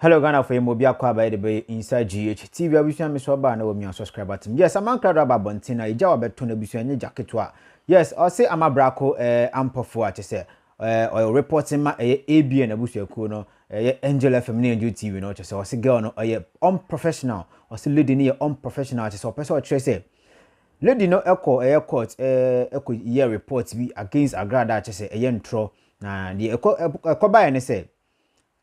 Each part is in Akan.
hello ghana for emu obi akɔ abayɛ de bɛyɛ inside gh tv abusua mi so ɔbaa na wɔmi unsubscribe atim yes amankra do aba abɔnten na egya wabɛto na abusua nye gya ketewa yes ɔse ama brako ɛɛ eh, ampɔfo a kyɛ sɛ Eh, ɔyɛ reporting ma ɛyɛ ABN abusuakuo no, ɛyɛ Angel FM ne Angel TV no, kyɛ sɛ ɔse girl no ɔyɛ unprofessional, ɔse lady no yɛ unprofessional, kyɛ sɛ ɔpɛ sɛ ɔkyerɛ sɛ lady no ɛkɔ ɛyɛ court ɛkɔ yɛ report bi against Agrada, kyɛ sɛ ɛyɛ ntorɔ, na deɛ ɛkɔ ɛkɔbaeɛ ne sɛ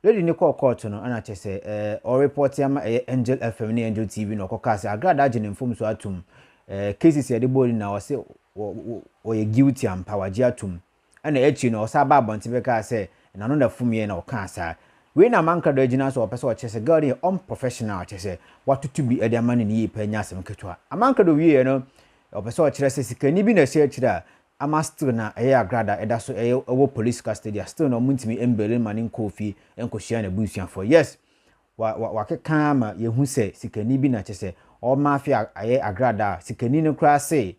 Lady no kɔɔ kɔɔto no na kyɛ sɛ ɛɛ ɔrepɔte ama ɛyɛ Angel FM ne Angel TV na ɔkɔkaa sɛ Agrada agye ne mfomso atom ɛɛ cases a yɛde bɔɔ no nyinaa ɔse wɔ wɔ ɔyɛ guilty ampa wagye atom ɛna akyiri no ɔsan baa abɔnten bɛkaa sɛ n'ano na fumiiɛ na ɔkaa saa wei na Amanka Ado agyina so a ɔpɛ sɛ ɔkyerɛ sɛ girl no yɛ unprofessional kyɛ sɛ watoto bi ɛde ama no ne yie paa nyɛ asɛm ketewa Amanka Ado wieeɛ no ɔpɛ sɛ ɔkyerɛ sɛ sikani bi na ɛhyɛ akyire a ama still na ɛyɛ agorɔ a da ɛda so ɛyɛ ɛwɔ police custody a still na ɔmo ntumi mbeli no ma no nkɔɔ fie nkɔhyia n'abusuafoɔ yes wa wa wakeka ara ma yɛhu sɛ sikani bi na kyɛ sɛ ɔma afe a ayɛ agrada a sikani no koraa se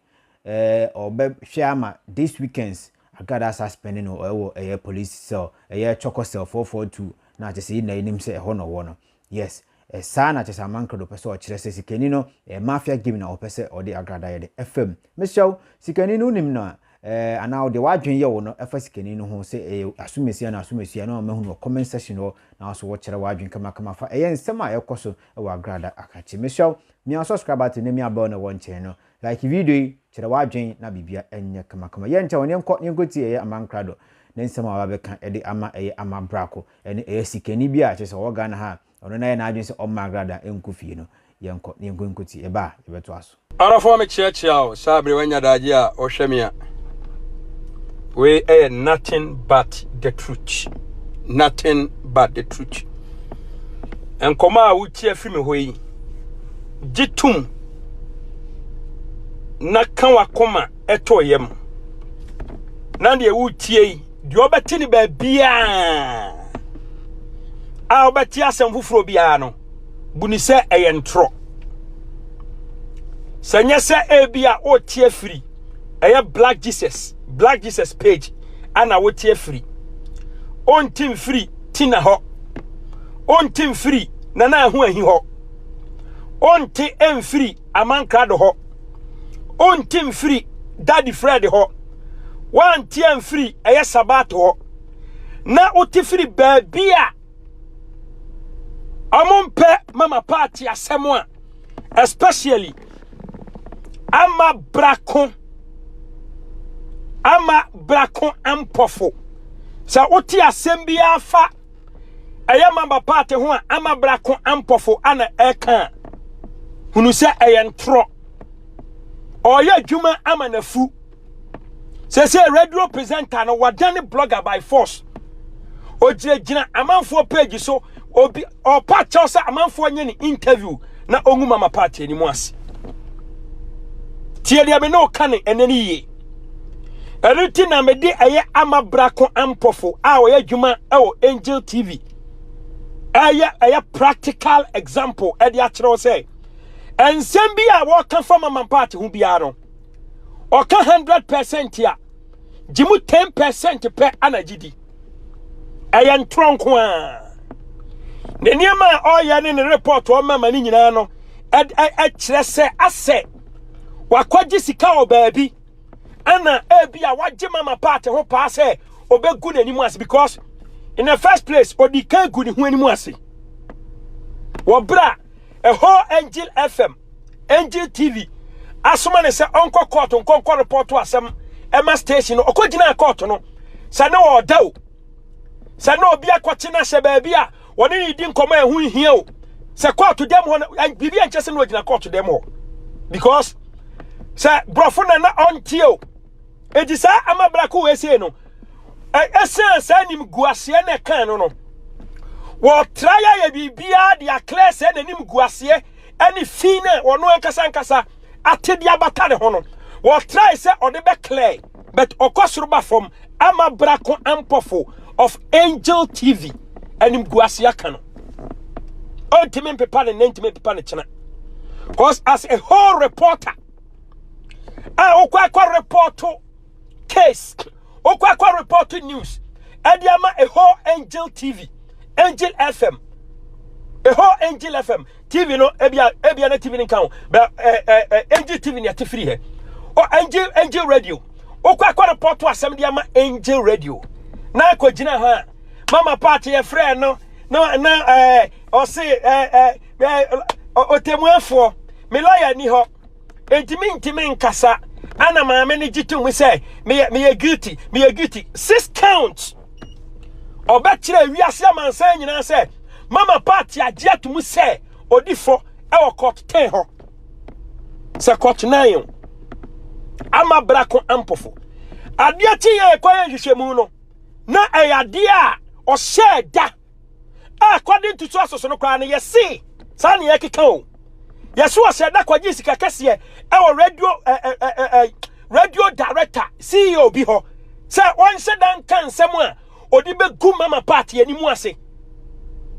ɛɛ ɔbɛhwɛ ama this weekends agrada asa spɛne no ɛwɔ ɛyɛ police cell ɛyɛ chɔkɔ cell four four two na kyɛ sɛ yɛn nyinaa yɛnim sɛ ɛhɔ na ɔwɔ no Yes, saa na kyesa aman credo pɛ sɛ ɔkyerɛ sɛ sikani no ɛyɛ mafia game na ɔpɛ sɛ ɔde agradayɛde ɛfa mu. Mesrɛ wo, sikani no wonim no a, eh, anaa deɛ w'adwene yɛ wo no ɛfa sikani no ho sɛ ɛyɛ asomasi anaa asomasi a na ɔma hu no wɔ comment section hɔ na wo nso wo kyerɛ w'adwene kamakama fa ɛyɛ nsɛm a ɛkɔ so ɛwɔ agrada akakye. Mesrɛ wo, mia subscribe button na mia bell na ɛwɔ nkyɛn no, like video yi, kyerɛ w'adwene na biribia ɛnyɛ kamakama. Yɛnkyɛ wɔn, yɛnkɔ na yɛnkɔtie ɛyɛ aman credo ne nsɛm a waba bɛka ɛde ama ɛyɛ ama brako. Ɛno ɛyɛ sikani bi a kyerɛ sɛ ɔwɔ Ghana ha a ɔno n'ayɛ n'adwene sɛ ɔmma agrada nkɔ fie no. Yɛnkɔ na yɛnkɔ nkɔtie. Yɛba a yɛbɛtoa so. Arafo me kyea kyea wo saa bere wanya daagye a ɔhwɛ me a wei ɛyɛ nothing but the truth nothing but the truth nkɔmɔ a wotie afi me hɔ yi gye tum na ka wakoma ɛtɔ yam na deɛ wotie yi Deɛ ɔbɛte no baabiara a ɔbɛte asɛm foforɔ biara no, bu ne sɛ ɛyɛ ntorɔ. Sɛ nyɛ sɛ ebi a ɔte afiri ɛyɛ Black Jesus, Black Jesus page ana wote afiri. Ɔnte mfiri Tina hɔ. Ɔnte mfiri Nana Ahu Ahi hɔ. Ɔnte mfiri Aman Krado hɔ. Wonte mfiri Daddy Fred hɔ. Woante amfiri ɛyɛ Sabato hɔ. Na wote firi baabi a ɔmompɛ Mama Party asɛm a especially ama brako ama brako mpɔfo. Sɛ wote asɛm biara fa ɛyɛ maba paate ho a ama brako ampɔfo ana ɛka a hunu sɛ ɛyɛ ntorɔ ɔyɛ adwuma ama nafu sɛ sɛ radio presenter no wadane blogger by force ogyinagyina amanfoɔ page so obi ɔpa kyɛw sɛ amanfoɔ nyɛ ne interview na ɔngu mama paate anim ase tie deɛ me ne ɔka ne ɛnɛ ne yie ɛno nti na mede ɛyɛ ama brako ampɔfo a ɔyɛ adwuma ɛwɔ angel tv ɛyɛ ɛyɛ practical example ɛde akyerɛ wo sɛ nsɛm bi a wɔka fa mama paati ho biara no ɔka hundred percent a gye mu ten percent pɛ ana gye di ɛyɛ ntorɔ nko a ne nneɛma a ɔyɛ ne ne report ɔma ma ne nyinaa no ɛkyerɛ sɛ asɛ wakɔgye sika wɔ baabi ɛna ebi a wagye mama part ho paa sɛ ɔbɛgu n'anim ase because in the first place ɔdi kan gu ne ho anim ase wɔ berɛ a ɛhɔ angel fm angel tv asoma ne sɛ ɔnkɔ kɔɔto nkɔnkɔ repɔto asɛm ɛma station no ɔkɔgyinaa kɔɔto no sɛ ne ɔda o sɛ ne obi akɔkye no ahyɛ baabi a Wɔne ne di nkɔmɔ a ɛho nhia o. Sɛ kɔɔto dɛm hɔ no, biribi a nkyɛ sɛ na ɔgyina kɔɔto dɛm hɔ. Because sɛ borɔfo na na ɔnteɛ o. Enti saa amabrako wei sei no, ɛsiane saa animguaseɛ na ɛkaa no no, wɔtra yɛayɛ biribiara de aklɛ sɛ n'anim guaseɛ ne fi no a wɔno ankasa ankasa ate de abata ne ho no, wɔtrae sɛ ɔde bɛklɛe. but ɔkɔ soro ba fam ama brako mpɔfo of angel tv anim gu ase aka no ɔntumi mpepa ne nna ntumi mpepa ne kyena cause as a whole reporter a wokɔ akɔ reporto case wokɔ akɔ reporto news ɛde ama a whole angel tv angel fm a whole angel fm TV no ebia ebia na TV no nka ho bɛ ɛɛ ɛɛ angel TV ni ɛte firi hɛ ɔ angel angel radio okɔ akɔ report asɛm de ama angel radio na akɔ gyina hɔ a mama paati yɛ frɛ no na na ɛɛ ɔse ɛɛ ɛɛ ɛɛ ɔtɛmuafoɔ melaya ni hɔ ntumi ntumi nkasa ana maame no gye tom sɛ meyɛ meyɛ guilty meyɛ guilty six counts. ɔbɛkyerɛ wiase amansan nyinaa sɛ mama party agye atum sɛ odi fɔ ɛwɔ court ten hɔ sɛ court nine o ama brako ampofo adeɛ kye yɛ ɛkɔ yɛ nhwehwɛmu no na ɛyɛ adeɛ a ɔhyɛ da a kɔde ntutu asoso no koraa no yɛse saa ne yɛkeka o yɛse ɔsɛ da kɔgye sika kɛseɛ ɛwɔ radio ɛ ɛ ɛ ɛ radio director ceo bi hɔ sɛ ɔnhyɛ da nka nsɛm a ɔde bɛgu mama party anim ase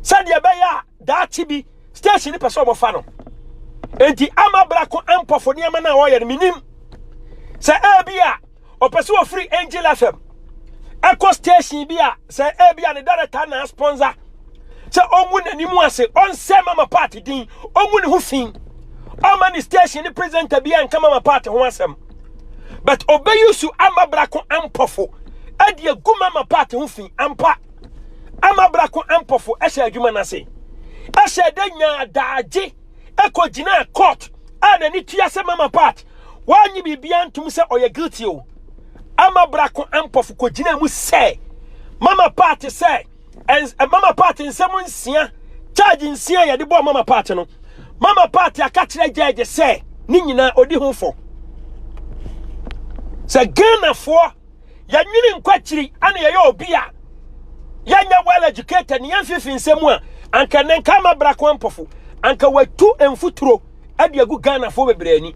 sɛdeɛ ɛbɛyɛ a daakye bi station no pɛ sɛ ɔmɔfa no enti ama brako ampɔfo nneɛma no a ɔyɛ no menim sɛ ɛbi a Ɔpɛ sɛ ɔfiri Angel FM ɛkɔ station bi a sɛ ebi a ne director na sponsor sɛ ɔngu n'anim ase ɔnsɛ mama party din ɔngu ne ho fi ɔma ne station ne presenter bi a nka mama party ho asɛm but ɔbɛyi su ama brako ampɔfo ɛde agu mama party ho fi ampa ama brako ampɔfo ɛhyɛ adwuma no ase ɛhyɛ dɛ nyaa daagye ɛkɔ gyinaa court a n'ani tua sɛ mama part wɔanye biribiara ntom sɛ ɔyɛ guilty o ama brako ampɔfo kɔ gyinaa mu sɛ mama part sɛ mama part nsɛm nsia charge nsia yɛde bɔɔ mama part no mama part aka kyerɛ judge sɛ ne nyinaa odi ho fɔ sɛ Ghanafoɔ yɛnwene nkɔ akyiri ana yɛyɛ obi a yɛnyɛ well educated ne yɛmfefe nsɛm a anka ne nka ma bra kwan mpɔfo anka watu mfuturo de agu ghanafoɔ bebree ani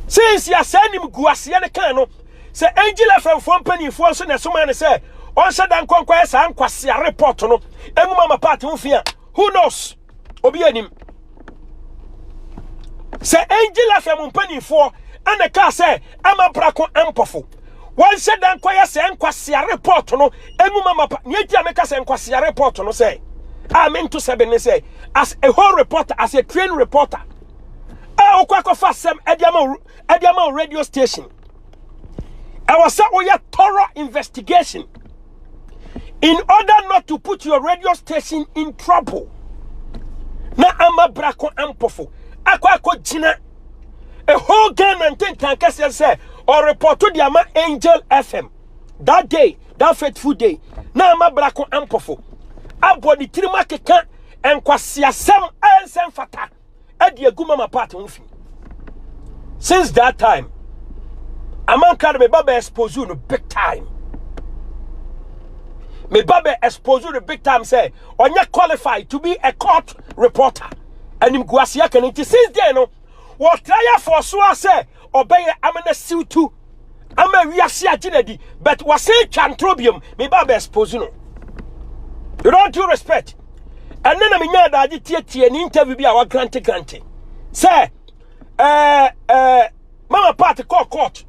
sinsi asɛe nim gu aseɛ no kan no sɛ angel afɛmfoɔ mpanimfoɔ nso na ɛsoma ne sɛ ɔnhyɛ da nkɔnkɔɛ saa nkwasea report no ɛnwuma ma paate ho fi a who knows obi anim sɛ angel afɛ mo mpanimfoɔ ɛna kaa sɛ ama brako mpɔfo wɔnhyɛ da nkɔyɛ sɛ nkwasea report no ɛmu ma mapa nea nti a meka sɛ nkwasea report no sɛ a mento sɛ bene sɛ as a whole reporter as a train reporter a wokɔ akɔfa asɛm ɛde ama ɛde ama radio station ɛwɔ sɛ woyɛ thorough investigation in order not to put your radio station in trouble na ama brako ampɔfo akɔ akɔgyina ɛhɔ ghana ntentan kɛseɛ sɛ ɔrepɔto de ama angel fm that day that fateful day na ama brako ampɔfo abɔ ne tirim akeka nkwaseasɛm a ɛnsɛ mfata adi agu mama part ho fi since that time amanka no meba bɛ expose no big time meba bɛ expose no big time sɛ ɔnyɛ qualified to be a court reporter anim guaseɛ kɛne nti since then no wɔtra yɛ fɔ so a sɛ Ɔbɛyɛ amena siw tu ama wiase agye no adi but wasan twa ntorɔ biom meba abɛ expose no with all due respect ɛnɛ na menya adagye tietie ne interview bi a wagrante grante sɛ ɛɛ ɛɛ mama part kɔɔ court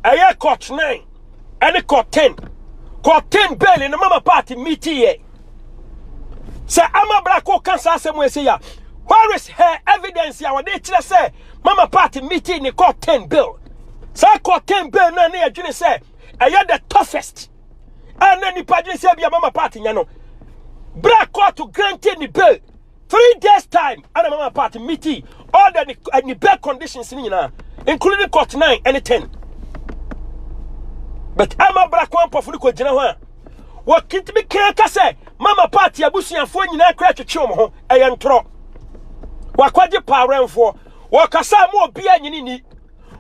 ɛyɛ court 9 ɛne court 10 court 10 bail no mama part meetiiɛ sɛ ama bra kɔka saa asɛm ɛsɛ ya where is her evidence a wɔde kyerɛ sɛ mama party meeting ne kɔ ten bill saa kɔ ten bill na ne yɛdwene sɛ ɛyɛ the toughest a na nipa dwene sɛ bi a mama party nya no bra court granted ne bill three days time ana mama party meeting all the eh, ne bail conditions ne nyinaa including court nine and ten but ama bra kwan pɔfo no kɔ gyina hɔ a wɔtumi kan ka sɛ mama party abusuafoɔ nyinaa kora twetwe wɔn ho ɛyɛ ntorɔ wakɔgye pawrɛnfoɔ wɔkasa mu obiara nyini ni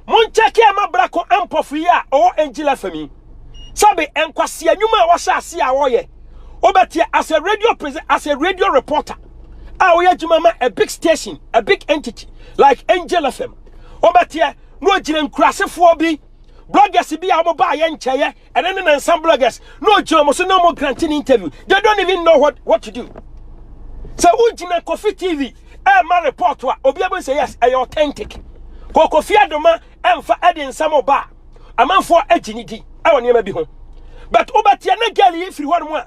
monkyɛke ama brako ampɔfo yi a ɔwɔ angela fami sɛbe nkwasea nnwuma a wɔhyɛ ase a wɔyɛ wobɛteɛ as a radio present as a radio reporter a wɔyɛ adwuma ma a big station a big entity like angel fm wobɛteɛ na ɔgyina nkurasefoɔ bi bloggers bi a wɔbaa yɛ nkyɛeɛ Ɛno ne nansa bloggers na ogyina wɔn so na wɔn grant ne interview. They don't even know what what to do. Sɛ wogyina Kofi TV ɛma report a obi abɛn sɛ yes ɛyɛ authentic. Kɔ Kofi Adoma ɛmfa ɛde nsɛm ɔba a amanfoɔ agyi ne di ɛwɔ nneɛma bi ho. But wobɛteɛ ne girl yi firi hɔ nom a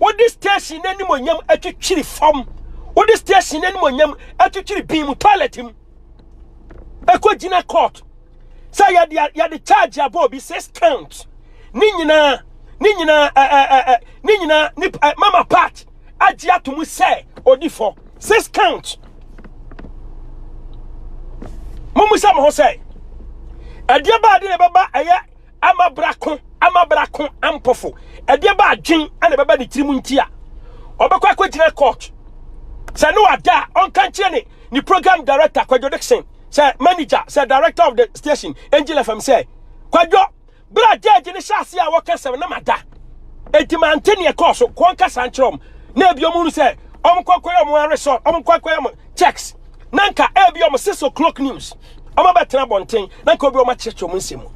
wode station no animonyam atwitwiri fam wode station no animonyam atwitwiri bin mu toilet mu ɛkɔgyina court sɛ yɛde yɛde charge abɔ obi six count ne nyinaa ne nyinaa ɛɛ ne nyinaa ne mama part agye ato mu sɛ odi fɔ six count mo mu sɛ mo ho sɛ ɛdeɛ baade na ɛbɛba ɛyɛ ama bra ko ama bra ko ampɔfo ɛdeɛ ba adwen ɛna ɛbɛba ne tirim nti a ɔbɛkɔ akɔgyina court sɛ ne wada a ɔnka nkyerɛ ne ne program director Kwadwo Dixon sɛ manager sɛ director of the station Angel FM sɛ Kwadwo bra gyɛɛgye ne hyɛ ase a wɔka sɛ na mada ɛti ma nte neɛ kɔɔ so kɔnkasa nkyerɛ ɔm na ebi ɔmu nu sɛ ɔm kɔkɔyɛ ɔm aresɔ ɔm kɔkɔyɛ ɔm checks na nka ebi wɔn six o'clock news wɔn abɛtena abɔnten na nka obi wɔn akyerɛkyerɛ wɔn nsɛm mu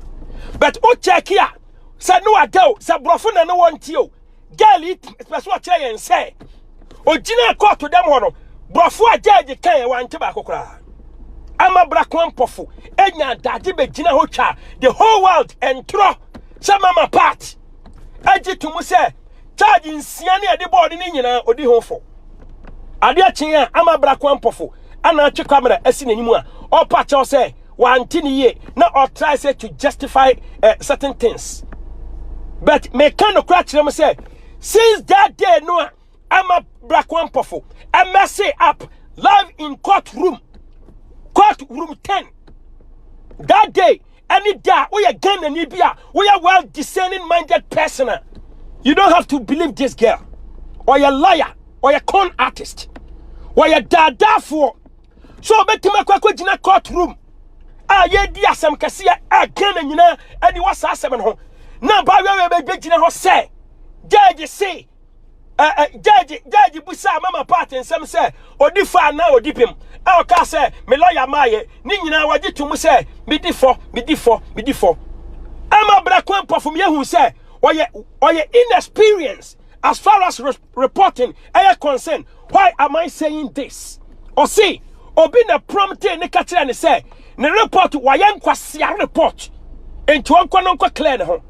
but o check a sɛ ne wada o sɛ borɔfo na ne wɔn ti o girl yi pɛ so ɔkyerɛ yɛn sɛ ogyina kɔɔto dɛm hɔ no borɔfo a gyɛɛgye kan yɛ wante baako koraa ama brako mpɔfo enya adagye bɛgyina hɔ twa the whole world ɛntorɔ sɛ mama part agye to mu sɛ charge nsia ne ɛde bɔɔde no nyinaa ɔdi ho fo adeɛ kyen a ama bra kwan pɔfo ana atwe kamera asi n'anim a ɔpa kyɛw sɛ wante ne yie na ɔtrae sɛ to justify uh, certain things but meka no kora kyerɛ m sɛ since that day no a ama bra kwan pɔfo ɛmɛse up live in court room court room 10 that day ɛne da a woyɛ Ghanani bi a woyɛ well discerning minded person a you don't have to believe this girl ɔyɛ liar ɔyɛ con artist ɔyɛ daadaafoɔ so ɔbɛtumi akɔ akɔgyina court room a yɛdi asɛm kɛseɛ a Ghana nyinaa ɛde wɔ saa asɛm no ho na baawɛwɛ bɛgyina hɔ sɛ judge se gyɛɛgye gyɛɛgye bisaa mama part nsɛm sɛ ɔdi fɔ anaa ɔdi pem a ɔkaa sɛ me lɔya maayɛ ne nyinaa wɔgye to mu sɛ medi fɔ medi fɔ medi fɔ ama berɛ ko mpɔfo meyɛhu sɛ ɔyɛ ɔyɛ inexperience as far as re reporting ɛyɛ concern why am I saying this ɔse obi na prompte ne ka kyerɛ ne sɛ ne report wayɛ nkwasea report nti ɔnkɔ no nkɔ clear ne ho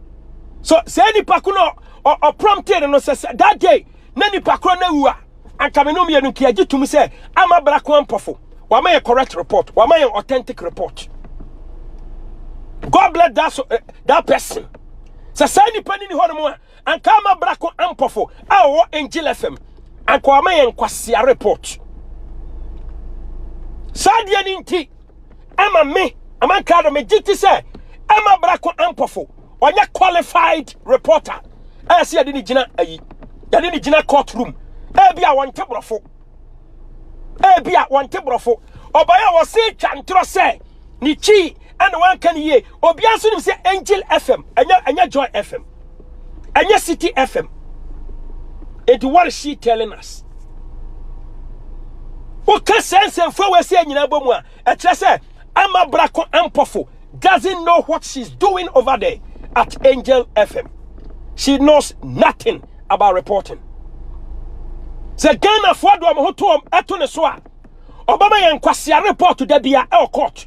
so sɛ nipa ko no Ɔ ɔpromptee no no sɛ, sɛ that day na nipa koro no awu a, anka me ne wo mmienu nka yɛagye tom sɛ ama bra ko ampɔfo. Wama yɛn correct report. Wama yɛn authentic report. God bless that, so, eh, that person. Sɛ saa nipa no ni hɔ nom a, anka ama bra ko ampɔfo a ɔwɔ Angel FM. Anka wama yɛn nkwasia report. Saa deɛ no nti, ama me ama nka do megye ti sɛ ɛma brako ampɔfo ɔnyɛ qualified reporter ɛyɛ sɛ yɛde ne gyina ayi yɛde ne gyina court room ebi a wɔnte borɔfo ebi a wɔnte borɔfo ɔbaa a wɔse twa ntorɔ sɛ ne kyi ɛna wanka ne yie Obiara nso nim sɛ Angel FM ɛnyɛ ɛnyɛ Joy FM ɛnyɛ City FM. Eti what is she telling us? Woka sɛ nsɛmfua wɔ ɛsɛ nyinaa bɔ mu a ɛkyerɛ sɛ ama brako mpɔfo doesn't know what she's doing over there at Angel FM. She knows nothing about reporting. Sɛ Ghanafoɔ de wɔn ho to wɔn ɛto ne so a ɔbɛma yɛn nkwasia report da bia ɛwɔ court.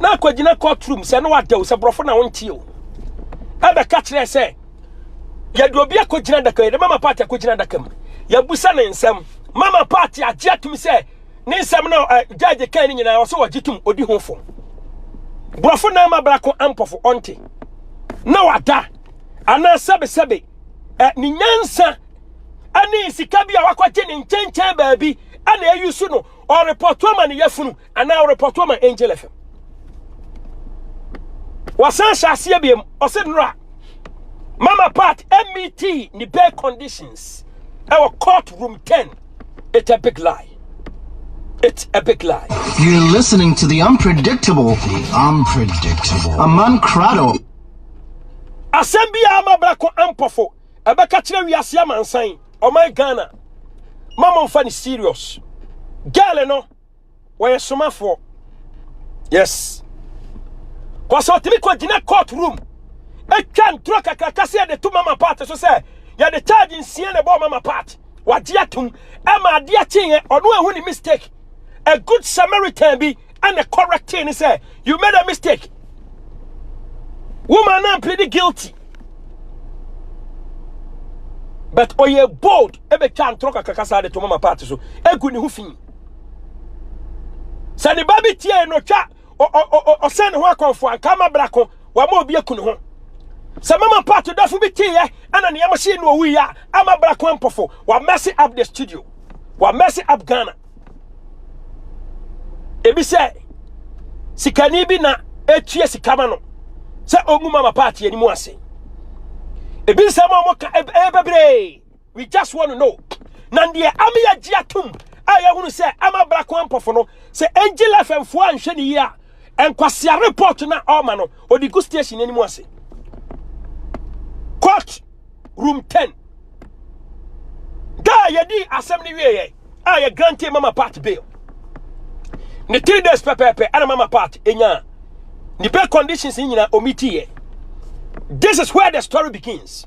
na akɔgyina court room sɛ na wada o sɛ borɔfo na wonte o ɛbɛka kyerɛ sɛ yɛde obi akɔgyina adaka yɛde mama party akɔgyina adaka mu yɛbusa ne nsɛm mama party agye atum sɛ ne nsɛm na eh, judge kan no nyinaa ɔsɛ wɔgye tom ɔdi ho fo borɔfo na ama brako ampɔfo ɔnte na wada anaa sɛbesɛbe eh, ne nyansa ɛne sika bi a wakɔgye ne nkyɛnkyɛn baabi ɛna ɛyi so no ɔrepɔto ama ne yafunu anaa ɔrepɔto ama angel fm wasan hyɛ aseɛ biam ɔsɛ nnora mama part met ne bare conditions ɛwɔ court room 10 it's a big lie It's a big lie. You're listening to the unpredictable. The unpredictable. A man crado. Asɛm bi a ama brako ampɔfo ɛbɛka kyerɛ wiase amansan ɔman Ghana. Mama mfa ne serious. Girl no wɔyɛ somafoɔ yes kɔsɛ ɔtumi kɔ gyina court room atwa ntorɔ kakraka sɛ yɛde to mama part so sɛ yɛde charge nsia na ɛbɔɔ mama part wagye atom ɛma ade akyeeɛ ɔno ahu ne mistake a good samaritan bi ɛna correctee ne sɛ you made a mistake woman no plead guilty but ɔyɛ bold ɛbɛtwa ntorɔ kakraka saa de to mama part so ɛgu ne ho fi sɛ ne ba bi tiee no twa ɔsɛn ne ho akɔmfo anka ma brako wama obi aku ne ho sɛ mama mpato dafo bi teeɛ ɛna nea mɔhyee no ɔwuiɛ a ama brako ampɔfo wa mess up the studio wa mess up Ghana ebi sɛ sikani bi na etua sika ma no sɛ ɔngu mama paati anim ase ebi nsɛm a wɔka ɛyɛ bebree We just want to know. Na deɛ ama yɛgye atom a yɛhunu sɛ ama brako ampɔfo no sɛ Angel FM foɔ anhwɛ ne yie a nkwasia report no a ɔma no ɔde gu station anim ase. Court room 10. Da a yɛdi asɛm no wieɛ a yɛ grante mama part bail. Ne three days pɛpɛɛpɛ ɛna mama part ɛnya ne bail conditions nyina ɔmitiiɛ. This is where the story begins.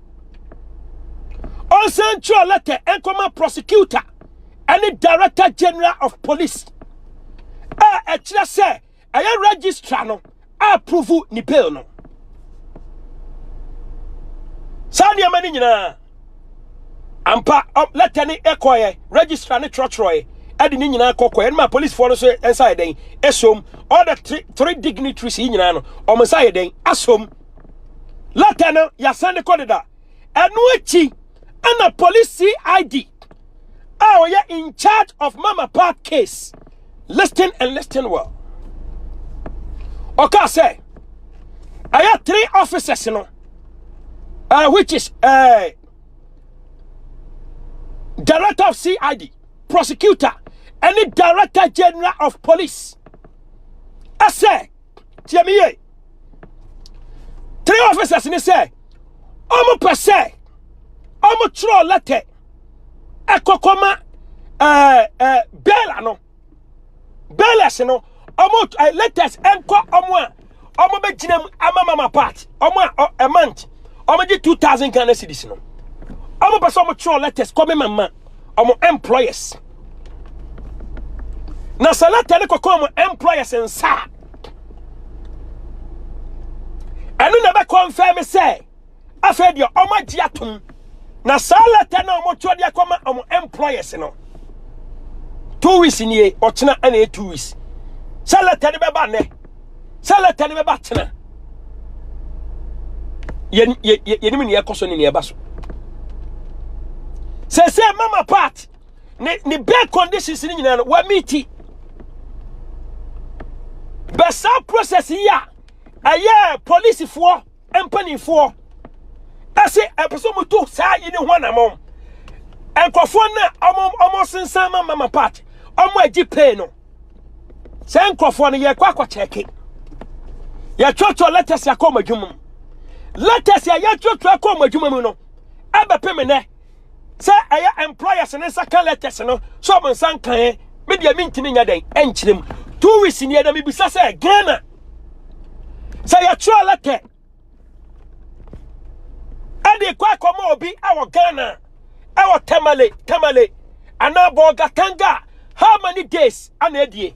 ɔnsan nkyerɛ lɛtɛ nkɔma prosecutor ne director general of police a ɛkyerɛ sɛ ɛyɛ registrar no approve ne bail no saa nneɛma no nyinaa ampa lɛtɛ ne ɛkɔɛ registrar ne twerɛtwerɛɛ ɛde ne nyinaa kɔkɔɛ ɛnma policefoɔ no nso nsa yɛ dɛn ɛsom all the three, three dignitaries yi nyinaa no ɔmo nsa yɛ dɛn asom Lɛtɛ no yɛasan de kɔ deda. Ɛno akyi ɛna police CID a ɔyɛ in charge of Mama Park case listen and listen well. Ɔka sɛ ɛyɛ three officers no uh, which is uh, director of CID, prosecutor, and the director general of police. I say tie me yie three officers ne sɛ wɔn pɛ sɛ wɔn twerɛ lɛtɛ ɛkɔkɔma ɛɛ ɛɛ bɛɛla no bɛɛlɛs no wɔn ɛɛ lɛtɛs ɛnkɔ wɔn a wɔn bɛ gyina mu ama mama part wɔn a ɛmant wɔn gye two thousand ghana cedis no wɔn pɛ sɛ wɔn twerɛ lɛtɛs kɔmi mama. wɔn employers na sɛ lɛtɛ no kɔkɔ wɔn employers nsa a ɛno na ɛbɛkɔ mfɛn mi sɛ afei deɛ wɔn agye atom na saa lɛtɛ na wɔn twerɛ de akɔma wɔn employers no two weeks nie ɔkyena ɛna yɛ two weeks sɛ lɛtɛ no bɛba nnɛ. sɛ lɛtɛ no bɛba tena yɛnim ne yɛkɔ so ne ne ɛba so sɛ sɛ mama part ne ne bɛɛ conditions no nyinaa no wamiti bɛ saa process yi a ɛyɛ polisifoɔ mpanimfoɔ ɛse ɛpɛ sɛ wɔtu saa yi ne ho anamɔn nkurɔfoɔ no a wɔn sensan ma mama part wɔn agye pay no saa nkurɔfoɔ no yɛkɔ akɔkyɛke yɛtwerɛtwerɛ letters akɔ wɔn adwuma mu letters a yɛtwerɛtwerɛ akɔ wɔn adwuma mu no ɛbɛpem nnɛ sɛ ɛyɛ employers ne nsa ka letters no sɛ ɔmo nsa nkaeɛ me deɛ mentumi nya dɛn ɛnkyerɛ mu two weeks neɛ na mebisa sɛ ghana sɛ yɛtwerɛ letter ɛde kɔ akɔma obi ɛwɔ ghana ɛwɔ tamale tamale anaa bɔɔgatanga how many days ana adie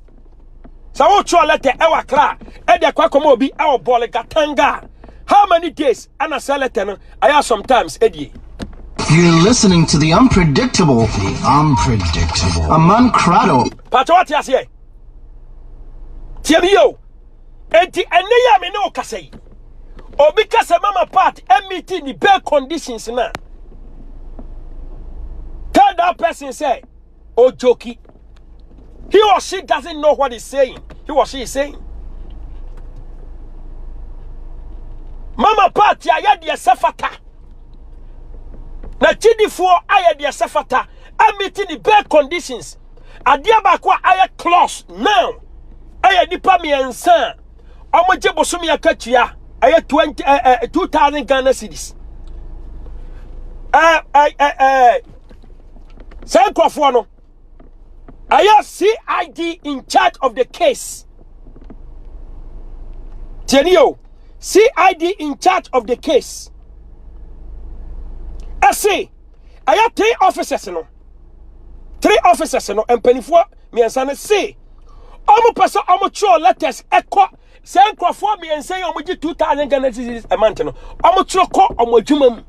Sɛ wokyerɛ lɛtɛ ɛwɔ akra ɛde akɔ akɔma obi ɛwɔ bɔɔle gatanga how many days ɛna sɛ lɛtɛ no ayɛ sometimes ɛdie. You're listening to the unpredictable, the unpredictable, Aman Krado. Pacho wate aseɛ. Tie me yo. Enti ɛnɛ yi a me ne wo kasa yi. Obi kasa mama part emiti ni bed conditions na. Tell that person say Ojoki. He or she doesn't know what he's saying. He or she is saying. Mama party ayɛ deɛ sɛ fata. Na kyidifoɔ ayɛ deɛ sɛ fata. Amiti ne bare conditions. Adeɛ baako a ayɛ close now. Ɛyɛ nipa mmiɛnsa a wɔgye bosomi akatua ɛyɛ twenty ɛɛ eh, eh, two thousand Ghana cedis. Ɛɛ eh, ɛɛ. saa nkurɔfoɔ no ɛyɛ cid in charge of the case tiɛni o cid in charge of the case ɛse ɛyɛ three officers no three officers no mpanimfoɔ mmiɛnsa no se wɔn pɛ sɛ wɔn twerɛ letters ɛkɔ Sɛ nkurɔfoɔ mmiɛnsa yi a wɔgye 2000 Ghana cedis a month no wɔtwerɛ kɔ wɔn adwuma mu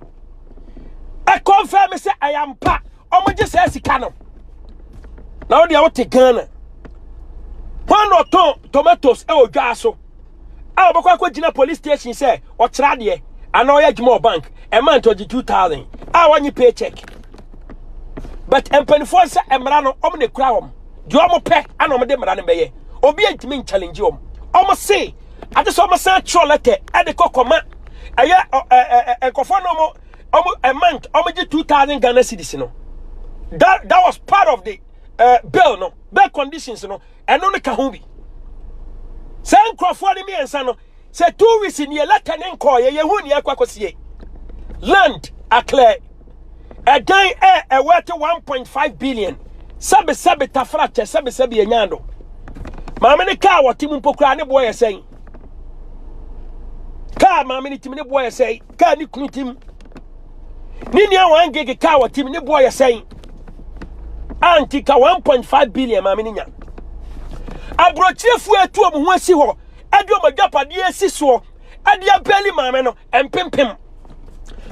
ɛkɔmfɛm me sɛ ɛyɛ ampa wɔgye saa sika no na wodeɛ wote Ghana hwan na ɔtɔn tomatoes ɛwɔ dwaa so a wɔbɛkɔ akɔgyina police station sɛ ɔkyerɛ adeɛ anaa ɔyɛ adwuma wɔ bank ɛma nti ɔgye 2000 a wɔnye pay check but mpanimfoɔ sɛ mmara no wɔn na ɛkura wɔn deɛ wɔn pɛ ɛna wɔn de mmara no bɛyɛ obi ntumi nkyalengye wɔn wɔn se ade sɛ wɔn san atwerɛ lɛtɛ ɛde kɔ kɔma ɛyɛ ɔ- ɛ- ɛ- ɛ- nkurɔfoɔ na wɔn wɔn a month wɔn gye two thousand ghana cedis no that that was part of the uh, bill no bill conditions no ɛno no ka ho bi saa nkurɔfoɔ no mmiɛnsa no sɛ two weeks ni yɛ lɛtɛ ne nkɔɔ yɛ yɛhu ni akɔ akɔsie land aklɛ ɛdan ɛ ɛwɔ ɛte 1.5 billion sɛbesɛbe tafra kyɛ sɛbesɛbe ɛnyaa do maame ne kaa wɔte mu mpo koraa ne boɔ yɛ sɛn kaa maame ne tim ne boɔ yɛ sɛn kaa ne kunu tim ne nua wɔn gege kaa wɔte mu ne boɔ yɛ sɛn anti ka 1.5 billion maame ne nya aburokyerefoɔ atu wɔn ho asi hɔ ɛde wɔn agyapadeɛ asi soɔ ɛde abɛli maame no mpempem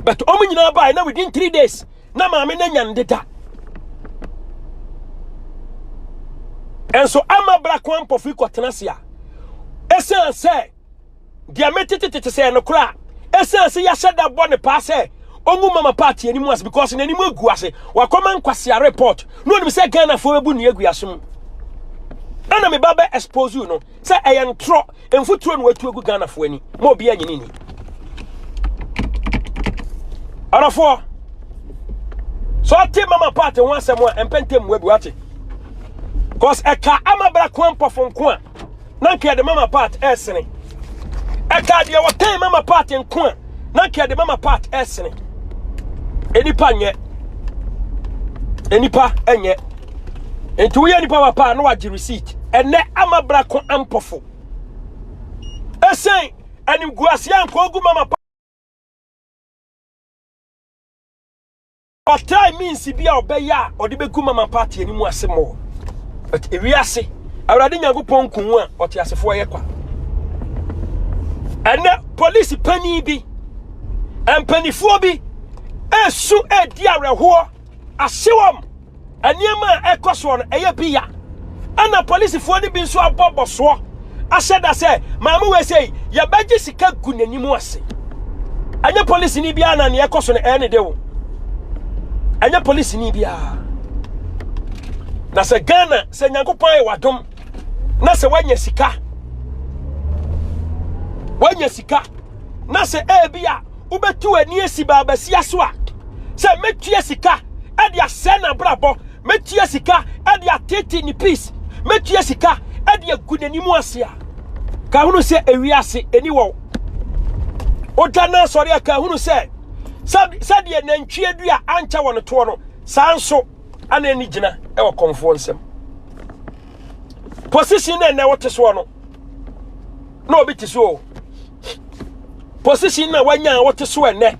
but wɔn nyinaa baa na within three days na maame no anya ne deda nso ama brako ampɔfo yi kɔtena ase a ɛsiane sɛ deɛ metetetete sɛ no koraa ɛsiane sɛ yɛahyɛ da bɔ ne paa sɛ ɔngu mama party anim ase because n'anim agu ase wakɔma nkwasea report na ɔnim sɛ ghanafoɔ bɛbu ne agu ase mu ɛna meba bɛ expose you no Sɛ ɛyɛ ntorɔ mfuturo na watu agu Ghanafoɔ ani ma obi anyini nni. Ɔdɔfoɔ, sɛ ɔte mama paate ho asɛm a ɛmpɛ ntɛm mua bi wate. Cause ɛka ama bra koa mpɔfo nko a na nka yɛde mama paate ɛresene. Ɛka deɛ wɔtɛn mama paate nko a na nka ɛde mama part ɛsene nipa nyɛ nipa nyɛ nti woyɛ nipa wa paa na wagye receipt ɛnɛ ama bra ko ampɔfo ɛsɛn animguaseɛ anka ogu mama Ɔtrae means bi a ɔbɛyɛ a ɔde bɛgu mama party no mu ase mmɔɔ. But ewiase, Awurade Nyankopɔn ko hu a ɔteasefoɔ yɛ kwa. Ɛnɛ polisi panin bi, mpanifoɔ bi ɛsu ɛdi awerɛhoɔ, ahyewam. Nneɛma a ɛkɔ soɔ no ɛyɛ pi ya. Ɛna polisifoɔ no bi nso abɔ bɔsoɔ ahyɛ da sɛ maame wei sei yɛbɛgye sika gu n'anim ase. Ɛnyɛ polisini biara na nea ɛkɔ so no ɛyɛ ne de o. Ɛnyɛ polisini biara. Na sɛ Ghana sɛ Nyankopɔn ayɛ wadom na sɛ wanya sika wanya sika na sɛ ebi a Wobɛtu w'ani asi baabasia so a, sɛ mɛtua sika de asɛe n'abrabɔ, mɛtua sika de atete ne peace, mɛtua sika de agu n'anim ase a, ka hunu sɛ ewi ase ɛni wɔ wo. Wogya no asɔre a, ka hunu sɛ sɛdeɛ nantwie dua ankyɛ wɔ ne toɔ no, saa nso ana ani gyina wɔ kɔmfoɔ nsam. Position na ɛnɛ wote soɔ no, na obi te so o. position na wanya a wote so ɛnɛ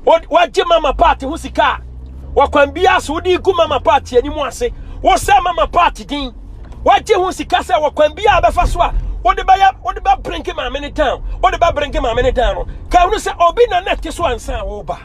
wagye mama party ho sika a wɔkwan biara so wode gu mama party anim ase wosɛ mama party din wagye ho sika sɛ wɔkwan biara bɛfa so a wode bɛyɛ wode bɛbrenge maame no down wode bɛbrenge maame no down no ka hunu sɛ obi na na ɛte so ansa a woba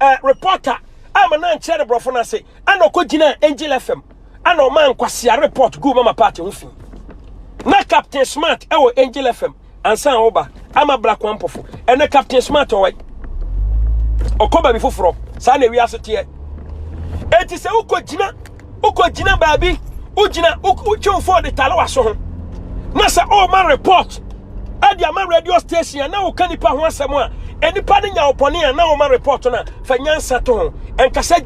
eh, reporter ama no ankyerɛ ne borɔfo no ase ana ɔkɔgyinaa angel fm ana ɔma nkwasea report guu mama party ho fi na captain smart ɛwɔ angel fm ansa a woba ama black one pɔfo ɛnɛ captain smart ɔwɔ ɔkɔ baabi foforɔ saa na ewiase teɛ enti sɛ wokɔgyina wokɔgyina baabi wogyina wotwe mfo de tare w'aso ho na sɛ ɔrema oh, report ɛde ama radio station a na woka nipa ho asɛm a nnipa no nya ɔpɔne a na wɔma report no a fa nyansa to ho ɛnkasa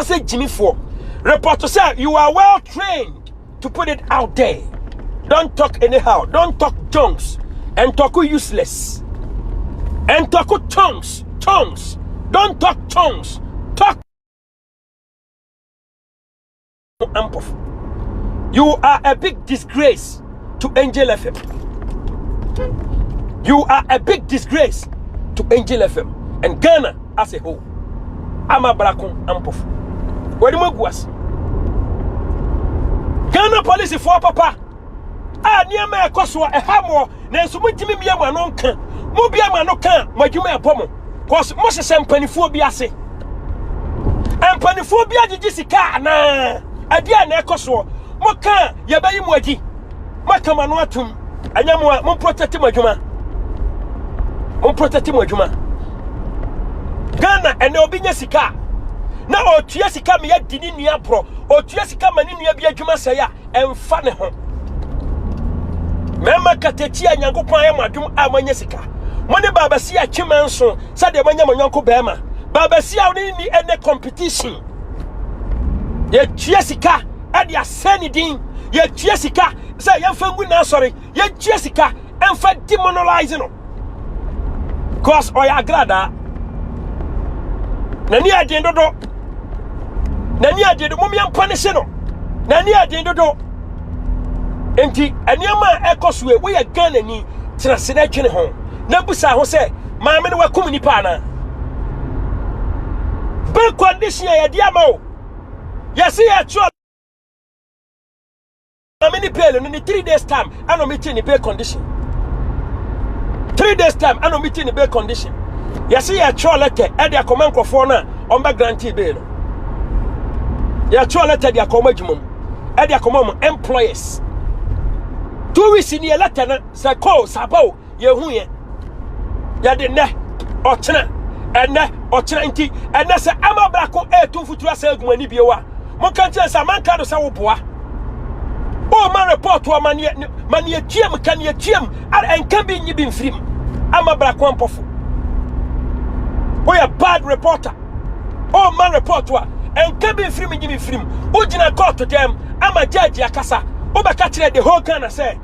sɛ gyimifoɔ report sɛ you are well trained to put it out there don't talk anyhow don't talk junks and talk useless and talk tongues tongues don't talk tongues talk ampɔfo you are a big disgrace to angel fm you are a big disgrace to angel fm and ghana as a whole ama brako ampɔfo wɔde mu agu ase ghana police foɔ papa a nneɛma a ɛkɔ so a ɛha mo nanso motumi mmia mo ano nka mobia mo ano ka a mo adwuma ɛbɔ mo cause mohyehyɛ mpanimfoɔ bi ase mpanimfoɔ bi agyegye sika anaa ɛdeɛ a na ɛkɔ soɔ moka a yɛbɛyi mo adi moaka mo ano atom ɛnyɛ mo a momprotɛte mo adwuma momprotɛte mo adwuma ghana ɛnɛ obi nya sika a na ɔtua sika ma yɛdi ne nua borɔ ɔtua sika ma ne nua bi adwuma sɛe a ɛmfa ne ho mɛma katakyi a nyankopɔn ayɛ mo adwom a moanya sika mo ne baabasi a kyema nso sɛdeɛ moanya mo nyɔnko bɛrima baabasi a wone ni ɛnɛ competition yɛtua sika ɛde asɛn ne din yɛtua sika sɛ yɛmfa ngu n'asɔre yɛtua sika ɛmfa demonolize no cause ɔyɛ agradaa n'ani aden dodo n'ani aden dodo mumia mpa ne se no n'ani aden dodo nti nneɛma a ɛkɔ so yɛ woyɛ ghana ni tena se na adwene ho na busa ho sɛ maame no wakum nipa anaa bɛ condition a yɛde ama o yɛse yɛtoa Maame ne pain no ne three days time ɛna ɔmo ti ne bail condition three days time ɛna ɔmo ti ne bail condition yɛsi yɛ ɛtwerɛ lɛtɛ ɛde akɔma nkorɔfoɔ no a ɔmo bɛ grante bail no yɛ ɛtwerɛ lɛtɛ de akɔ ɔmo adwuma mu ɛde akɔma ɔmo employers two weeks ni yɛ lɛtɛ no sɛ kɔɔ saba o yɛhuiɛ yɛde nnɛ ɔkyena ɛnɛ ɔkyena nti ɛnɛ sɛ ama brako ɛɛtu mfuturo asɛ agu ani bio a monka nkyerɛ sɛ amanka do sɛ woboa woma report wɔ maneɛ maneɛ tuam ka neɛ tuam ɛnka bi nyi bi mfirim ama brako ampɔfo woyɛ bad reporter woma report a ɛnka bi mfirim nyi bi mfirim wogyina kɔɔto dɛm ama judge akasa wobɛka kyerɛ the whole Ghana sɛ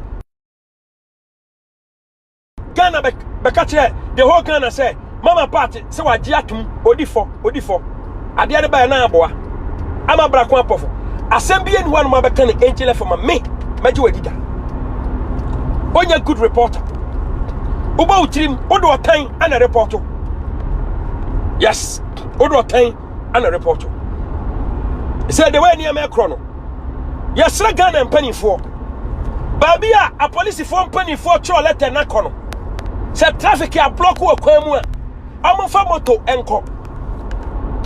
ghana bɛka kyerɛ the whole ghana sɛ mama party sɛ wagye atom odi fɔ odi fɔ adeɛ no bɛyɛ na aboa ama brako apɔfo asɛm bi ɛni hɔ anoma bɛka ne angel fɔ ma me mɛgye wadi da ɔnyɛ good reporter wobɔ wo tirim wode ɔtan ana repɔto yes wode ɔtan ana report sɛ de wei nneɛma ɛkorɔ no yɛsrɛ ghana mpanimfoɔ baabi a apolisifoɔ mpanimfoɔ twerɛ lɛtɛ no akɔ no sɛ traffic ablɔko wɔ kwan mu a ɔmomfa moto nkɔ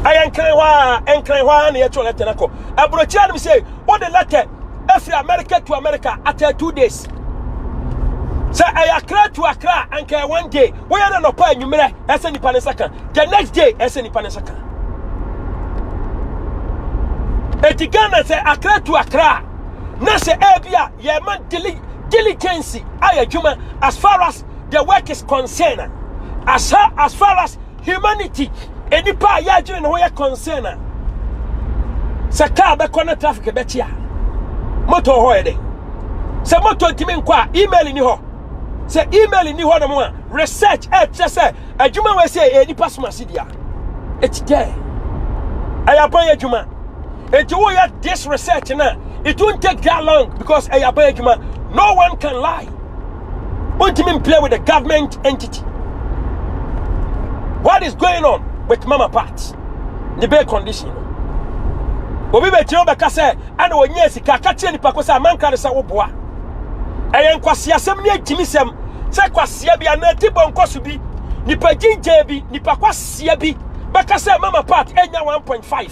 ɛyɛ nkran hɔ a nkran hɔ a na yɛtwerɛ lɛtɛ no akɔ aburokyerɛ nom sɛ wode lɛtɛ afiri america to america after two days sɛ ɛyɛ akra to akra anka one day woyɛ no nɔpa anwummerɛ ɛsɛ nipa ne nsa ka the next day ɛsɛ nipa ne nsa ka eti ghana sɛ akra tu akra a na sɛ ɛbi a yɛma diligence ayɛ adwuma as far as the work is concerned as, as far as humanity nnipa a yɛadwene ne ho yɛ concern a sɛ kaa bɛkɔ na traffic bɛkye a moto hɔ yɛ dɛ sɛ moto ntumi nkɔ a email ni hɔ sɛ email nni hɔnom a research ɛkyerɛ sɛ adwuma wɔ sɛ ɛyɛ nipa som ase dea it's there ɛyɛ aban adwuma nti woyɛ this research na it won't take that long because ɛyɛ aban adwuma no one can lie wontumi play with the government entity what is going on with mama part ne bɛɛ condition no obi bɛgyina wobɛka sɛ ɛna ɔnyɛ sika ka kyerɛ nipa ko sɛ amanka ne sɛ woboa Ɛyɛ nkwaseasɛm ne agyimisɛm sɛ kwasea bi anaa tibɔ nkɔso bi, nipa gyingyɛɛ bi, nipa kwasea bi bɛka sɛ mama part anya 1.5.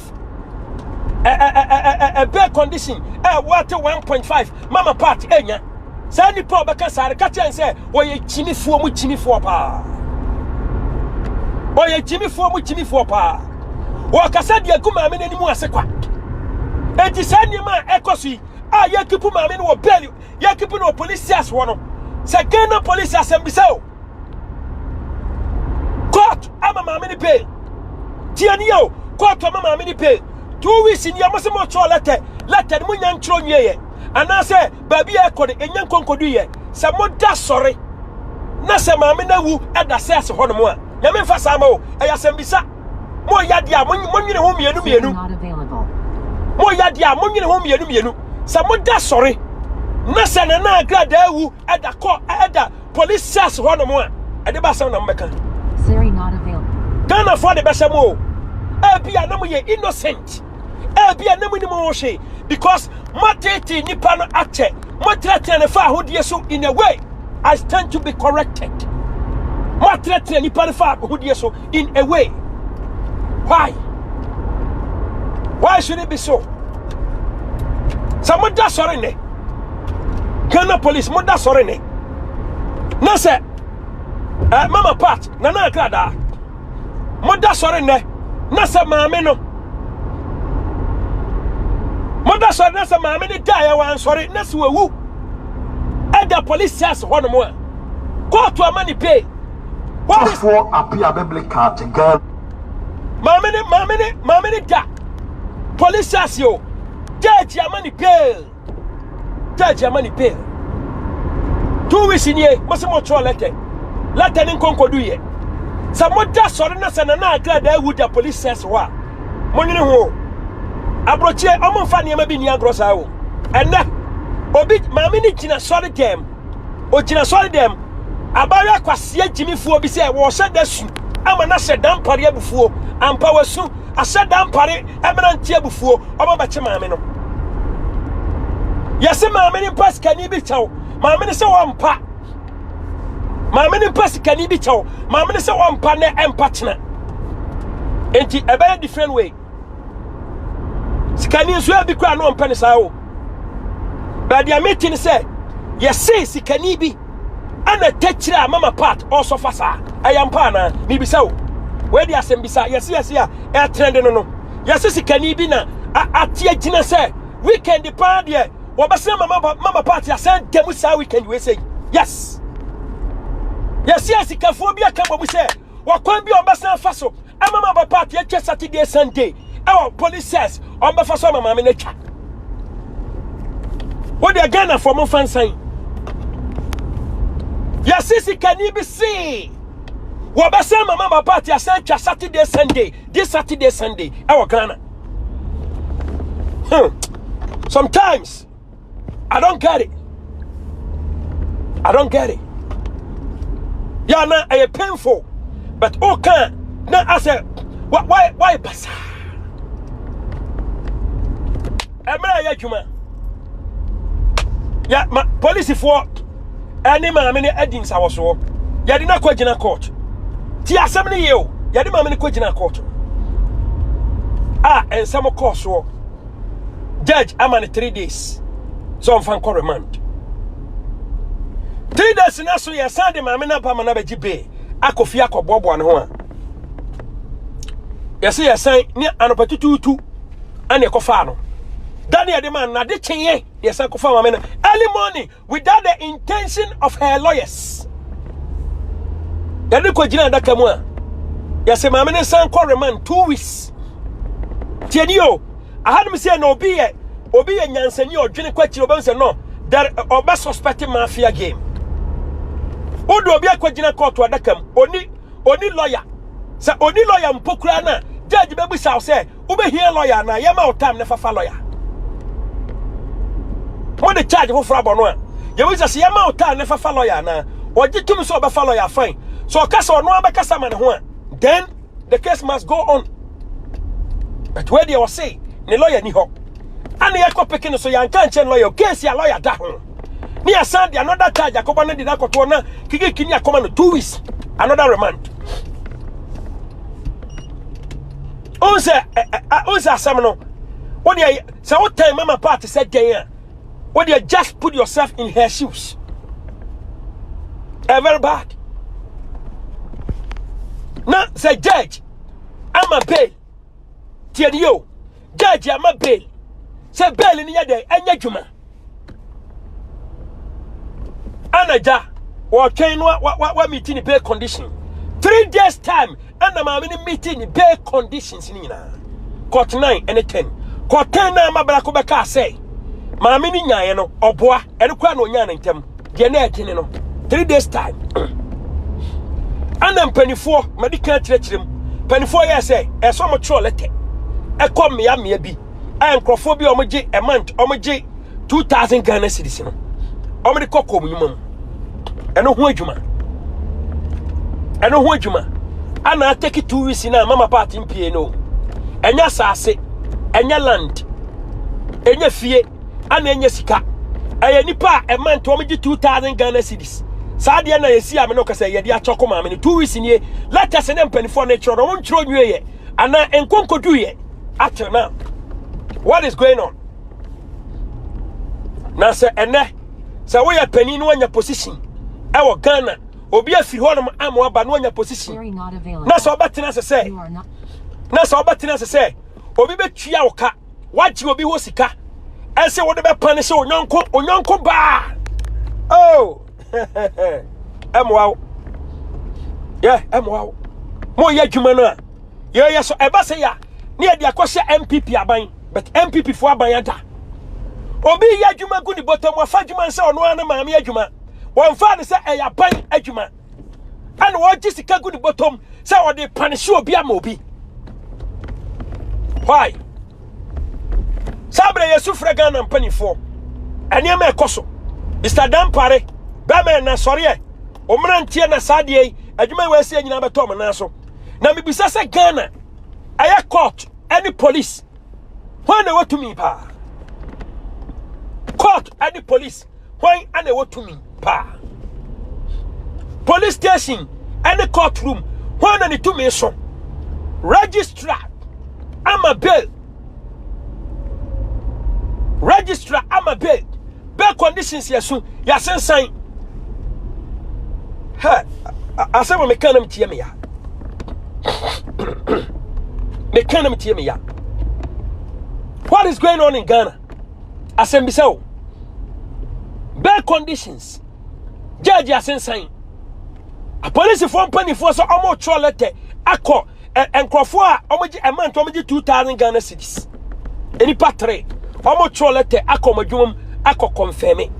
Ɛbɛ condition a wɔate 1.5 mama part anya. Saa nipa a ɔbɛka saa no ka kyerɛ sɛ wɔyɛ gyimifoɔ mu gyimifoɔ paa. Wɔyɛ gyimifoɔ mu gyimifoɔ paa. Wɔkasa deɛ gu maame n'anim ase kwa. Enti saa nneɛma a ɛkɔ so yi a yɛkipu maame no wɔ bɛɛli yɛkipu no wɔ polisias hɔ no sɛ ghana polisi asɛmbisa o court ama maame no pay tie ne yɛ o court ama maame no pay two weeks ni ɔmo sɛ mo twerɛ lɛtɛ lɛtɛ no mo nya ntwerɛ nwie yɛ anaasɛ baabi a ɛkɔ no ɛnya nkonkodu yɛ sɛ mo da sɔre na sɛ maame no awu ɛda sɛ ase hɔ nom a nyame mfa saa ma o ɛyɛ asɛmbisa Moyɛ adeɛ a monwene ho mmienu mmienu. Moyɛ adeɛ a monwene ho mmienu mmienu. Sɛ moda sɔre na sɛ nana agradaa awu ɛda kɔ ɛda police cells hɔ nom a ɛde ba asɛm na mobɛka. Ghanafoɔ de bɛhyɛ mo o. Ebi a na moyɛ innocent. Ebi a na monim ho hwee because moatete nipa no akyɛ. Moatenatena ne fa ahodeɛ so in a way. I stand to be corrected. Moatenatena nipa no fa ahodeɛ so. in a way. Why? Why should it be so? Sɛ moda sɔre ne Ghana police moda sɔre ne na sɛ eh, mama part nana akradaa moda sɔre ne na sɛ maame no moda sɔre na sɛ maame no da yɛ wansɔre na sɛ wawu ɛda police sɛs hɔ nom a kɔɔto ama ne pay Hwafoɔ apia bɛble kaate Ghana. Maame ne maame ne maame ne da police station o judge ama ne bail judge ama ne bail two weeks nie mo se mo twerɛ letter letter ne nkonkodu yɛ sɛ mo da sɔre na sɛ nana agra da awu da police station hɔ a mo nwene ho aburokyie ɔmo nfa nneɛma bi ni agorɔ saa o ɛnɛ obi maame ne gyina sɔre dɛm Ogyina sɔre dɛm. Abaayewa kwasia gyimifoɔ bi sɛ wɔhyɛ da su ama no ahyɛ da mpare abufuo. Ampa wasu ahyɛ da mpare mmerante abufuo. Ɔma bɛkye maame no. Yɛse maame no mpa sikani bi kyɛw. Maame no sɛ wɔmpa. Maame no mpa sikani bi kyɛw. Maame no sɛ wɔmpa na ɛmpa kyena. Enti ɛbɛyɛ different way. sikani nso ebi kura na ɔmpɛ ne saa o baabi a mete ne sɛ yɛse sikani bi ɛna tɛkyerɛ a mama part ɔsɔfa saa ɛyɛ mpa anaa mebisa o wei de asɛm bisa yɛse yɛse a ɛtrɛnde no no yɛse sikani bi na ate agyina sɛ weekend paa deɛ wɔbɛsɛ mama mama part asɛn dɛm saa weekend wei sɛ yes yɛse asikafoɔ bi aka bɔ mu sɛ ɔkwan bi a wɔbɛsan afa so ama ma papa ate atwa saturday sunday ɛwɔ police cells wɔbɛfa so ama maame no atwa wodeɛ ghanafoɔ momfa nsan yɛse sikani bi see wɔbɛsan ma ma papa ate asan atwa saturday sunday this saturday sunday ɛwɔ ghana hmm. sometimes I don't get it. I don't get it. Yeah, na ɛyɛ eh, painful. But oh can na asɛ why why why basa? Ɛmɛ eh, yɛ adwuma. Yeah, ma polisifoɔ ɛne eh, maame no adi nsawɔsoɔ. Yɛde no akɔ gyina court. Ti asɛm no yie o. Yɛde maame no kɔ gyina court. A nsɛm kɔɔ soɔ. judge ama no three days sɛ ɔmfa nkɔ remand three days na so yɛsan de maame no aba ma no abɛgye bee akɔ fie akɔboaboa ne ho a yɛsɛ yɛsan ne anɔpa tutuutu ɛne ɛkɔfaa no da ne yɛde ma nade kyenyɛ yɛsan kɔfa maame no early morning Without the intention of her lawyers. Yɛde kɔ gyina adaka mu a, yɛsɛ maame no nsan kɔ remand two weeks. Tiɛ ni o, ahanom sɛ na obi yɛ obi yɛ nyansani a ɔdwene kɔ akyiri ɔbɛn sɛ no, there ɔbɛ suspect mafia game. Wodo obi akɔ gyina kɔɔto adaka mu, oni oni lawyer. Sɛ oni lawyer mpo koraa na judge bɛbu sa sɛ Wobɛhia lɔya anaa? Yɛma wo time na fa fa lɔya. Mode charge foforɔ abɔ no a, yɛbɛbisa sɛ yɛma wo time na fa fa lɔya anaa? Ɔgye tumi sɛ ɔbɛfa lɔya, fine. Sɛ ɔka sɛ ɔno ara bɛkasa ma ne ho a, then the case must go on. But wei deɛ ɔse ne lɔya ni hɔ. Ana yɛkɔ peke no so yɛanka nkyerɛ ne lɔya, case a lɔya da ho. Ne yɛsan de another charge akɔbɔ no de no akɔtoɔ na kikiki ne akɔma no two weeks another remand. Wohu sɛ wohu sɛ asɛm no wodeɛ sɛ wotan mama part sɛ dɛn a wodeɛ just put yourself in her shoes. Ɛyɛ very bad. Na sɛ judge ama bail tiɛ ni o judge ama bail sɛ bail ni yɛ dɛn ɛnyɛ dwuma. ɛna gya wɔtwɛn no wa meet ne bail condition three days time ɛna maame no meet ne bail conditions ne nyinaa court nine ɛne ten court ten na ama brako bɛka sɛ maame no nyaeɛ no ɔboa ɛno koraa na ɔnyaa ne ntɛm deɛ na ɛdwene no three days time ɛna mpanimfoɔ madi kan kyerɛkyerɛ mu mpanimfoɔ yɛ sɛ ɛsɛ wɔn twerɛ lɛtɛ ɛkɔ mmea mmea bi a nkurɔfoɔ bi a wɔn gye a month wɔn gye two thousand ghana cedis no wɔn de kɔ kɔn mu nnwuma mu ɛno ho adwuma ɛno ho adwuma ana atɛki two weeks na mama paati mpie no ɛnyɛ asase ɛnyɛ land ɛnyɛ fie. ana ɛnyɛ sika ɛyɛ nipa a ɛma nti wɔn gye two thousand ghana cedis saa deɛ na yɛsi ame no kasa yɛde akyɛ kɔ maame no two weeks nie letters ne mpanimfoɔ no kyerɛ no wɔn nkyerɛ onwie yɛ ana nkonkodu yɛ up till now what is going on na sɛ ɛnɛ sɛ woyɛ panin na wɔnya position ɛwɔ ghana obi afiri hɔnom ama aba na wɔnya position na sɛ ɔbɛtena ase sɛ na sɛ ɔbɛtena ase sɛ obi bɛtua wo ka woagye obi hɔ sika ɛsɛ wode bɛpa ne sɛ onyɔnko onyɔnko baa oh ɛmoa wo yɛ ɛmoa wo moyɛ adwuma no a yɛyɛ so ɛba sɛ yɛ a ne yɛde akɔhyɛ mpp aban but mpp foɔ aban ada obi yɛ adwuma gu ne bɔtɔ mu afa adwuma nsɛ ɔno ara ne maame adwuma wɔmfa ne sɛ ɛyɛ aban adwuma ɛna ɔregye sika gu ne bɔtɔm sɛ ɔde panehye obi ama obi why saa berɛ yɛsu frɛ ghana mpanimfoɔ nneɛma ɛkɔ so mr dampare bɛma ɛna sɔreɛ ɔmmeranteɛ na saa deɛ yi adwuma yi wɔasie nyinaa bɛtɔ ɔmo nan so na mebisa sɛ ghana ɛyɛ court ɛne police hwan na wɔtumi paa court ɛne police hwan ana ɛwɔ tumi paa police station any court room hwan na ne tumi so registrar ama bail registrar ama bail bail conditions yɛ so yɛasensan hɛ asɛm a meka nam tie me ya meka nam tie me ya what is going on in ghana asɛmbisa o bɛɛ conditions gyɛɛgye asensan apolisifoɔ mpanimfoɔ sɛ wɔretwerɛ lɛtɛ akɔ nkurɔfoɔ a wɔgye ɛma nti wɔgye two thousand ghana cedis nnipa tere wɔretwerɛ lɛtɛ akɔ wɔn adwuma mu akɔ kɔnfɛmi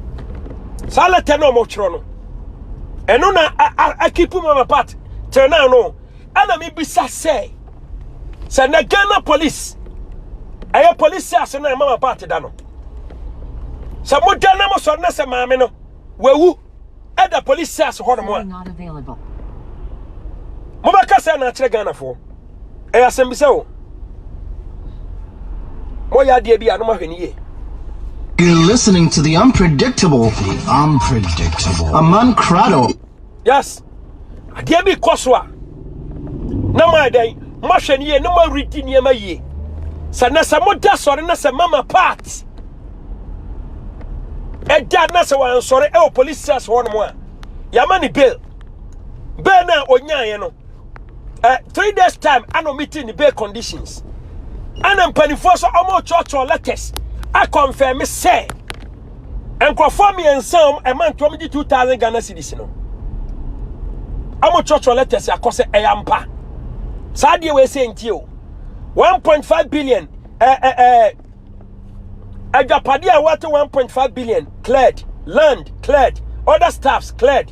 saa lɛtɛ na wɔretwerɛ no ɛno na akipu mu ama part tena no ɛna mebisa sɛ sɛ na ghana police ɛyɛ police ase no ɛma ma paate da no sɛ moda na mosɔre na sɛ maame no wawu ɛda police ase hɔ nom a mobɛka sɛ na akyerɛ ghanafoɔ ɛyɛ asɛm bisɛ o moyɛ adeɛ bi a no mahwɛ no yie You're listening to the unpredictable, unpredictable, Aman Krado. Yes. adeɛ bi kɔ so a na moayɛ dɛn moahwɛ no yie na moaredi nneɛma yie sɛ na sɛ moda sɔre na sɛ mama part ɛda na sɛ wansɔre ɛwɔ police cells hɔ nom a yɛama ne bail bail no a ɔnyaeɛ no eh, three days time ana ɔmete ne bail conditions ana mpanimfoɔ so ɔmɔkyɔkyɔ letters akɔmfɛme sɛ Nkurɔfoɔ mmiɛnsa a ɛma ntoa mu gye 2000 Ghana cedis no, wɔtwerɛtwerɛ letters akɔ sɛ ɛyɛ ampa. Saa adeɛ wei sɛ nti o. 1.5 billion eh, eh, eh, agyapadeɛ a wɔate 1.5 billion cleared, land cleared, other staffs cleared.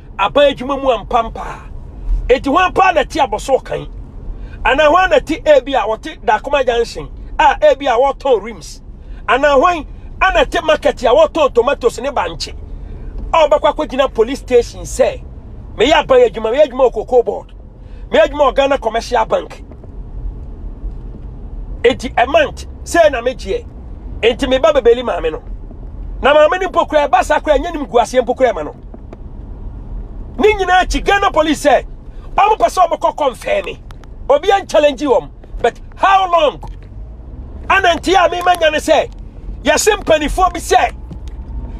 Aban adwuma mu ampa mpa a, enti hwan paa na ɛte abɔso kan? Anaa hwan na ɛte ebi a wɔte Dakoma Junction a ebi a wɔtɔn rims? Anaa hwan ana ɛte market a wɔtɔn tomatoes ne bankye a wɔbɛkɔ akɔgyina police station sɛ meyɛ aban adwuma, meyɛ adwuma wɔ cocoa board? me adwuma wɔ ghana commercial bank enti a month sɛ na megyeɛ enti meba bɛbɛli maame no na maame no mpo kora ɛba saa kora ɛnyɛ nim gu aseɛ mpo kora ɛma no ne nyinaa akyi ghana police sɛ ɔmo pɛ sɛ ɔmo kɔ kɔmfɛɛ me obi an challenge wɔm but how long ana nti a mema nya ne sɛ yɛse mpanimfoɔ bi sɛ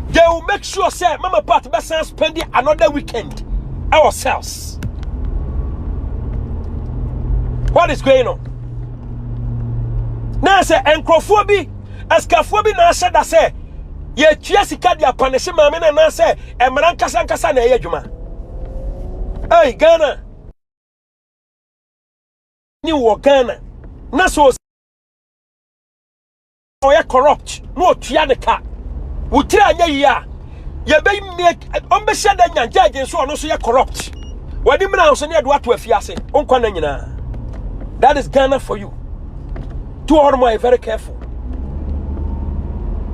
they will make sure sɛ mama part bɛsan spend another weekend our cells what is going on na sɛ nkurɔfoɔ bi asikafoɔ bi na ahyɛ da sɛ yɛtua sika de apanehye maame no anaasɛ mmara nkasa nkasa na ɛyɛ adwuma ei ghana ni wɔ Ghana na sɛ ɔyɛ corrupt na ɔtua ne ka wo tiri anyɛ yie a yɛbɛmie ɔmbɛhyɛ da nya gyagye nso ɔno nso yɛ corrupt wɔde mmira nso ne ɛde wato afie ase nkwa na nyinaa that is Ghana for you to hɔ nom ayɛ very careful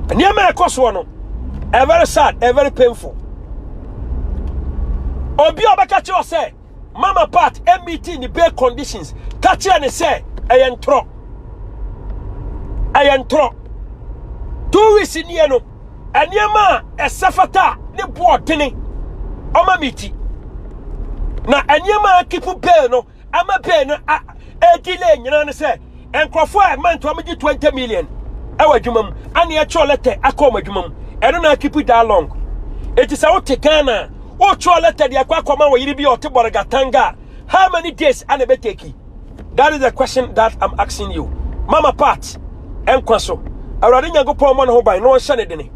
nneɛma ɛkɔ soɔ no ɛyɛ very sad ɛyɛ very painful obi a ɔbɛka kyerɛ sɛ mama part ɛmiti ne bail conditions ka kyerɛ ne sɛ ɛyɛ ntorɔ ɛyɛ ntorɔ two weeks nie no nneɛma a ɛsɛ fata ne boɔ tene ɔma miti na nneɛma a kipu bail no ama bail no ɛdile nyinaa ne sɛ Nkurɔfoɔ a ɛma ntoa mu gye twenty million ɛwɔ adwuma mu ana yɛtwerɛ lɛtɛ akɔ wɔn adwuma mu ɛno na akipi daa long eti sɛ wote Ghana a wotwerɛ lɛtɛ de akɔ akɔma wɔ yere bi a ɔte bɔrega tanga how many days ana ɛbɛteki that is the question that I'm asking you mama part nkwa so Awurade Nyankopɔn ɔmmɔ ne ho ban na ɔnhyɛ ne dene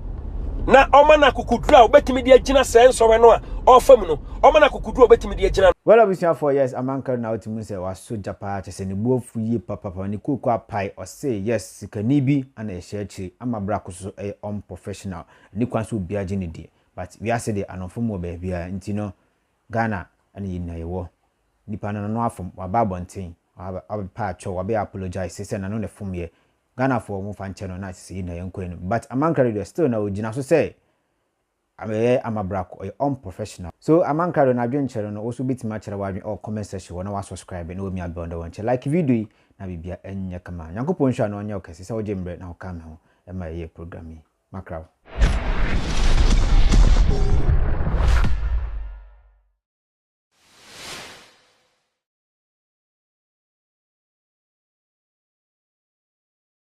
na ɔma no akokoduro a wobɛtumi de agyina sɛ nsɔhwɛ no a ɔfa mu no ɔma no akokoduro a wobɛtumi de agyina no. Well abusuafoɔ yes Amankar na wote mu sɛ wasɔ gya paa Ɛsɛ ne bo afu yie papapa ne kooko apae ɔse yes sikani bi ana ɛhyɛ akyire ama bra ko soso ɛyɛ unprofessional ɛni kwan sɛ obia gye no die but wiase deɛ anomfom wɔ baabiaa nti no Ghana ɛna yɛnyina yɛwɔ nipa no nano afom waba abɔnten wabɛ paa kyɛw wabɛ apologize sesɛ nano na ɛfom yɛ Ghanafoɔ mo fa nkyɛ no na sesɛ yɛnyina yɛnkɔ anim but Amankra deɛ still na ogyina so sɛ Ɔyɛ amabrako, ɔyɛ unprofessional. So Amankra do no adwen kyerɛ no no, wo so wobɛtumi akyerɛ w'adwen ɔwɔ comment section hɔ na w'asubscribe na w'amia bell na w'ankyɛ like video yi na biribiara ɛnyɛ kama. Nyankopɔn nhyira na ɔnyɛ wo kɛse sɛ wogye mbrɛ na wo ka me ho ma yɛyɛ program yi. Makra wo.